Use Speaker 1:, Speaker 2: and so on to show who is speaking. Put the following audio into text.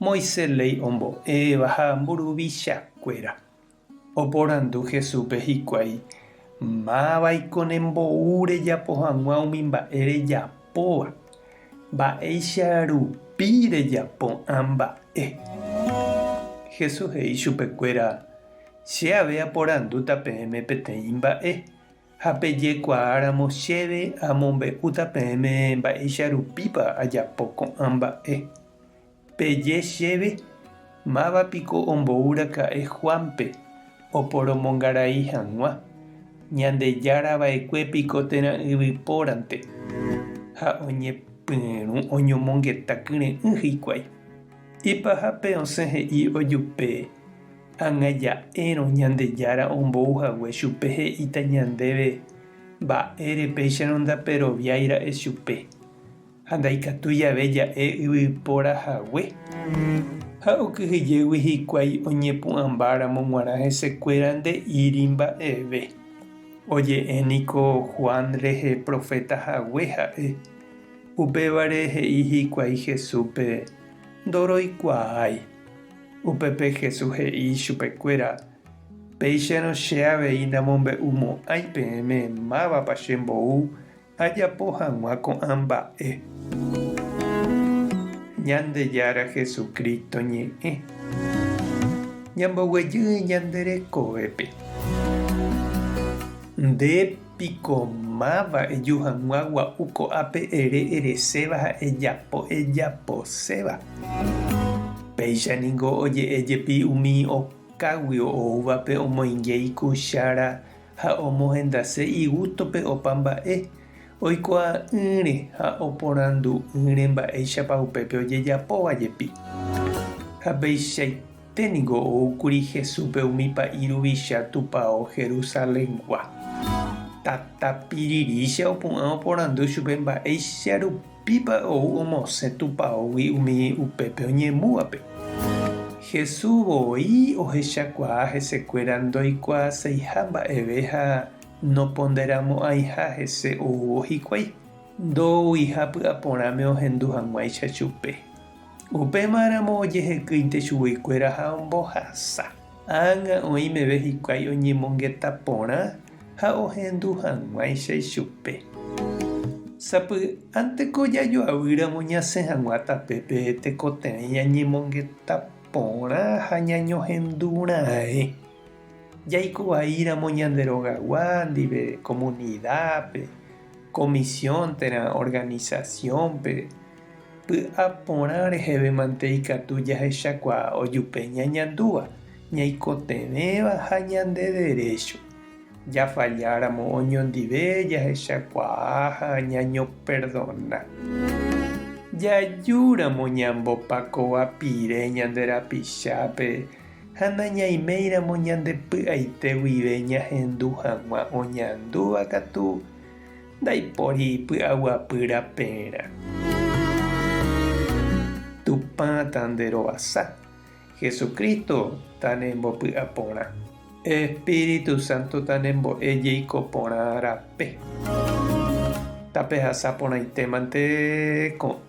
Speaker 1: Moisés léi ombo'éva ha mburuvichakuéra. Oporandu Jesúspe hikuái, Mávaiko ne mbou rejapo hag̃ua umi mba'e rejapóva? Mba'éicha rupi rejapo'ã mba'e? Jesús he'i chupekuéra, Che ave aporandúta peẽme peteĩ mba'e, ha pejekuaáramo chéve amombe'úta peẽme mba'éicha rupípa ajapo ko'ã mba'e. Peje chéve, Máva piko ombouraka'e Juánpe oporomongarai hag̃ua? Ñandejára va'ekue piko térã yvypórante ha oñepyrũ oñomongeta kyre'ỹ hikuái? Ipahápe osẽ he'i ojupe, Ág̃a ja'érõ Ñandejára ombou hague chupe he'íta ñandéve mba'ére péicharõ ndaperoviái ra'e chupe. Ha ndaikatu jave ja'e yvypóra hague, ha okyhyjégui hikuái oñepu'ãmba ramo g̃uarã hesekuéra nde'íri mba'eve. Oje'e niko Juan rehe proféta hague ha'e. Upévare he'i hikuái Jesúspe, Ndoroikuaái. Upépe Jesús he'i chupekuéra, Péicharõ che avei namombe'u mo'ãi peẽme mávapa che mbou Ajapo hag̃ua ko'ã mba'e. Ñandejára Jesucristo ñe'ẽ. Ñamboguejy ñande rekovépe. Nde piko máva eju hag̃ua gua'u ko'ápe ere ereséva ha ejapo ejaposéva. Péicha ningo oje'e jepi umi okágui oúvape omoinge ikuchára ha omohendase igústope opa mba'e, oikuaa'ỹre ha oporandu'ỹre mba'éichapa upépe ojejapóva jepi. Ha peichaite niko oúkuri Jesúspe umi pa'i ruvicha tupao Jerusaléngua. Tata pirirĩcha opu'ã oporandu chupe mba'éicha rupi. Pípa ou omosẽ Tupaógui umi upépe oñemúvape? Jesús voi ohechakuaa hesekuéra ndoikuaaseiha mba'eve ha noponderamo'ãiha hese oúvo hikuái, ndouiha py'aporãme ohendu hag̃uáicha chupe. Upéma ramo ojehekýinte chugui kuéra ha ombohasa. Ág̃a oĩ meve hikuái oñemongeta porã ha ohendu hag̃uáicha ichupe. Sapy'ánte ko jajoavy ramo ñasẽ hag̃ua tapépe tekotevẽ ñañemongeta porã ha ñañohendu raẽ. Jaiko vai ramo ñande rogagua ndive komunidápe, komisión térã organisasiónpe, Py'a porã rehevémante ikatu jahechakuaa ojupe ñañandúva, ñaikotevẽva ha ñande derécho. Jafalláramo oñondive jahechakuaa ha ñañoperdona. Jajúramo ñambopakova pire ñande rapichápe ha nañaiméiramo ñande py'aite guive ñahendu hag̃ua oñandúva katu, Ndaipóri py'aguapy rapérã. Tupã tanderovasa. Jesucristo tanembopy'a porã. Espíritu Santo tanembo'e jeiko porã rape. Tapehasa porãitémante ko'ã.